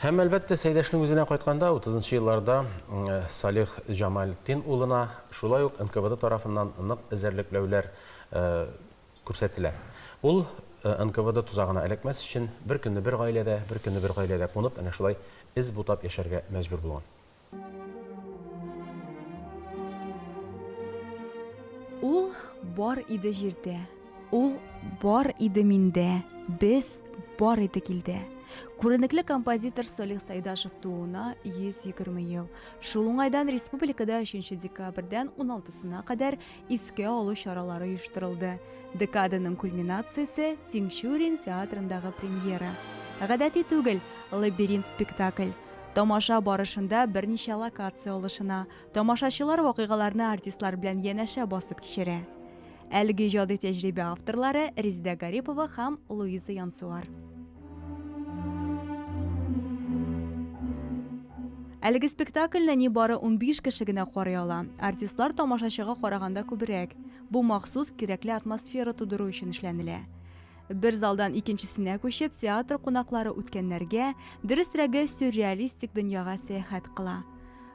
Һәм, әлбәттә, Сәйдәшнең үзенә кайтканда, утызынчы елларда Салих Җамалетдин улына шулай ук НКВД тарафыннан нык эзәрлекләүләр күрсәтелә. Ул НКВД тозагына эләкмәс өчен, бер көнне бер гаиләдә, бер көнне бер гаиләдә кунып, әнә шулай эз бутап яшәргә мәҗбүр булган. Ул бар иде җирдә, ул бар иде миндә, без бар идек илдә. Күренекле композитор Салих Сайдашев тууына 120 ел. Шул уңайдан республикада 3 декабрьдән 16-сына кадәр искә алу чаралары оештырылды. Декаданың кульминациясе Тинчурин театрындагы премьера. Гадәти түгел, лабиринт спектакль. Тамаша барышында берничә локация алышына. Тамашачылар вакыйгаларны артистлар белән янәшә басып кичерә. Әлеге иҗади тәҗрибә авторлары Резидә Гарипова һәм Луиза Янсуар. Әлеге спектакльне ни бары 15 кеше генә карый ала. Артистлар тамашачыга караганда күбрәк. Бу махсус кирәкле атмосфера тудыру өчен эшләнелә. Бер залдан икенчесенә күчеп, театр кунаклары үткәннәргә, дөресрәге, сюрреалистик дөньяга сәяхәт кыла.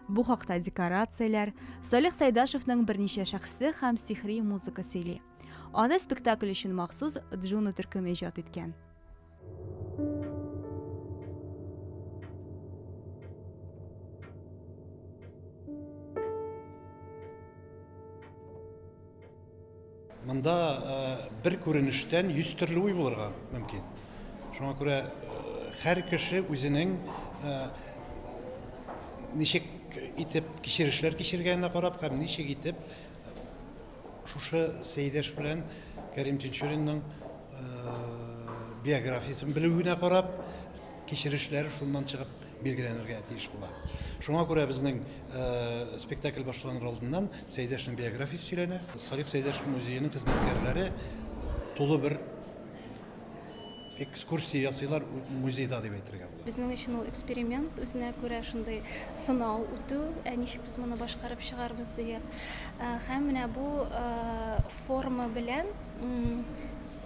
Бу хакта декорацияләр, Салих Сәйдашевның берничә шәхсе һәм сихри музыка сөйли. Аны спектакль өчен махсус Джуна төркеме иҗат иткән. Монда бер күренештән 100 төрле уй булырга мөмкин. Шуңа күрә һәр кеше үзенең ничек итеп кичерешләр кичергәненә карап һәм ничек итеп Шушы Сәйдәш белән Кәрим Тинчуринның биографиясен белү генә карап, кичерешләре шуннан чыгып билгеләнергә тиеш була. Шуңа күрә безнең спектакль башланыр алдыннан Сәйдәшнең биографиясе сөйләнә. Салих Сәйдәш музееның хезмәткәрләре тулы бер Экскурсия ясыйлар музейда дип әйтергә була. Безнең өчен ул эксперимент, үзенә күрә шундый сынау үтү, ә ничек без моны башкарып чыгарбыз диеп. Ә, һәм менә бу ә, форма белән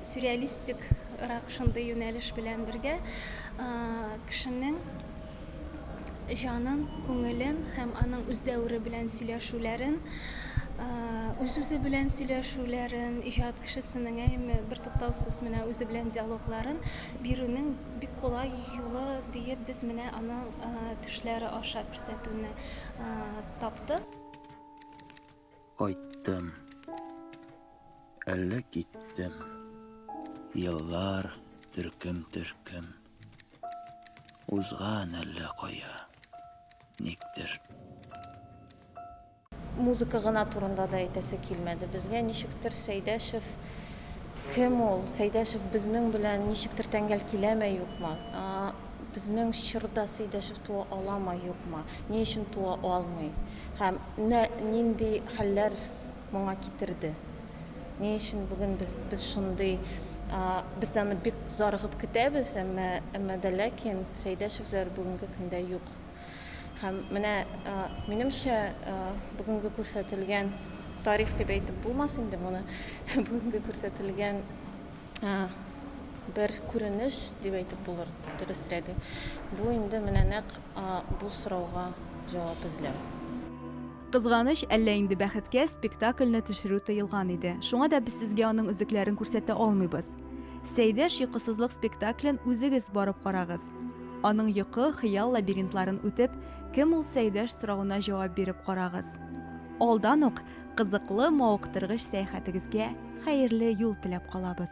сюрреалистик рак шундый юнәлеш белән бергә кешенең җанын, күңелен һәм аның үз дәвере белән сөйләшүләрен, үз-үзе белән сөйләшүләрен, иҗат кешесенең әйеме, бертуктаусыз менә үзе белән диалогларын бирүнең бик кулай юлы диеп без менә аның төшләре аша күрсәтүне таптык. Кайттым. Әллә киттем. Еллар төркем-төркем. Узган әллә кая, никтер. Музыка гына турында да әйтәсе килмәде безгә. Ничектер Сәйдәшев кем ул? Сәйдәшев безнең белән ничектер тәңгәл киләме, юкмы? Безнең чорда Сәйдәшев туа аламы, юкмы? Ни өчен туа алмый? Һәм нинди хәлләр моңа китерде. Ни өчен бүген без без шундый без аны бик зарыгып көтәбез, әмма әмма дә ләкин Сәйдәшевләр бүгенге көндә юк. Һәм менә минемчә бүгенге күрсәтелгән тарих дип әйтеп булмас инде моны. Бүгенге күрсәтелгән бер күренеш дип әйтеп булыр дөресрәге. Бу инде менә нәкъ бу сорауга җавап эзләү. Кызганыч, әллә инде бәхеткә, спектакльне төшерү тыелган иде. Шуңа да без сезгә аның өзекләрен күрсәтә алмыйбыз. Сәйдәш йокысызлык спектаклен үзегез барып карагыз. Аның йокы, хыял лабиринтларын үтеп, кем ул Сәйдәш соравына җавап биреп карагыз. Алдан ук кызыклы, мавыктыргыч сәяхәтегезгә хәерле юл теләп калабыз.